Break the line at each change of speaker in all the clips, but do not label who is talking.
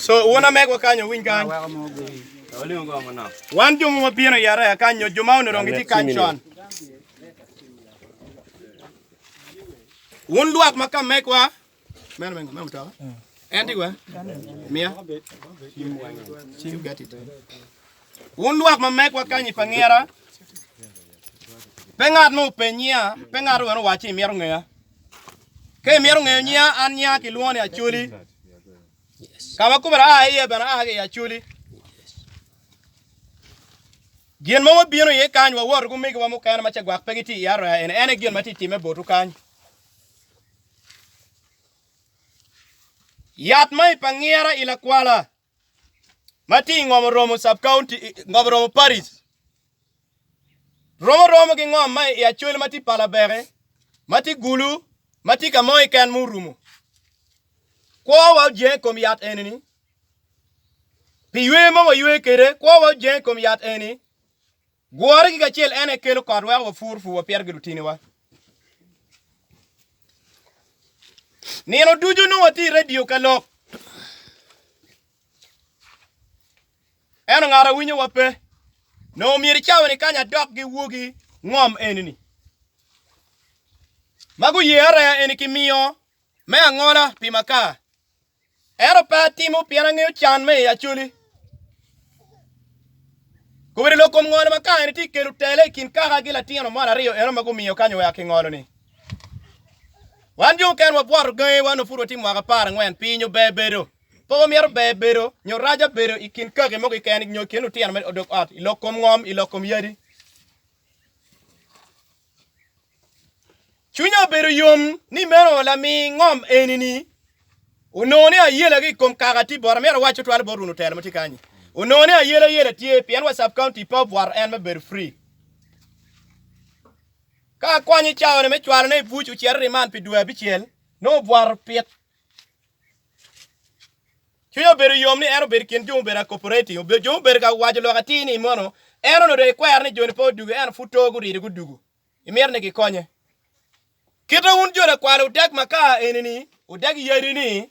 Co wun amegwa kany owiny kany. Wan jo ma wabino i araya kany nyo jo ma onongo dong gitye kany con. Wun lwak ma ka megwa meno meno meno mutoka. En tye wa? Mia. You got it. Wun lwak ma megwa kany i pangira. Pe ngat ma openyiya, pe ngat wene owac ni mito ngeya. Ka imito ngeyo nyiya, an nyiya kilwongo ni Acoli. Ka ma kubera a iye bene a ki i Acoli. Gin ma wabino iye kany wawoto ki omegiwa mukene ma cagwak pe gitye i Aroya eni en aye gin ma tye timme botu kany. Yat ma i pa ngira i lakwala ma tye i ngom oromo sub county ngom oromo paris romo romo ki ngom ma i acol ma tye palabeke ma tye gulu ma tye ka mo iken ma orumo kwowa ojeng kom yat eni ni pi ywe ma waywe kede kwowa ojeng kom yat eni Gworre gik acel en aye kelo kot weko wapur purwa pire ki lutiniwa. Nino ducu nongo watye i redio ka lok, ento ngat awinyowa pe. Nongo myero i cawa-ni kany adok ki wogi ngom eni-ni ma guye areya eni kimiyo me angola pi makar. Ento pe atimo pien angeyo can me i Acholi. Kobedo lok kom ngolo ma kare tye kelo tele i kin kaka gi latino mon aryo eno ma gumiyo kanyo wek akingolo ni. Wan jo oken wabwoto gangi wa nopud watye mwaka apar angwen piny ober bedo. Pe wamyero ber bedo nyo raja bedo i kin kaki mo kiken nyo kin lutino me odok ot i lok kom ngom i lok kom yadi. Cwinya obedo yom ni meno lami ngom eni-ni onongo ni ayela ki i kom kaka tye bot amyero awac tutwale bot wunu telo ma tye kany onongo ni ayela yela tye pien wa sub county pe obwaro en me bedo free ka akwany i cawa me cwalo ne i buc ocito riman pi dwe abicel nongo obwaro pit cwiny obedo yom ni en obedo kin jo mubedo a cooperating obedo jo mubedo ka waco lok atir ni mono en onongo ikwero ni joni pe odugo en pud to gurido gudugo imito ni gikonye. Kite wun jo lakwalo wudag makar eni-ni, wudag yadi-ni,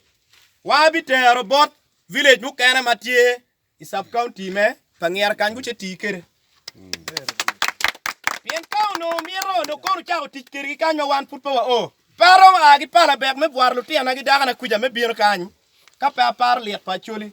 war abitero bot village mukene ma tye i sub county me pa ngira kany guce tii kede. Pien ka onongo mito onongo kono cako tic kedgi kany ma wan pud pe wa o. Pe aromo a ki pala bek me bwaro lutina ki dakana kwica me bino kany ka pe aparo lit pa Acholi.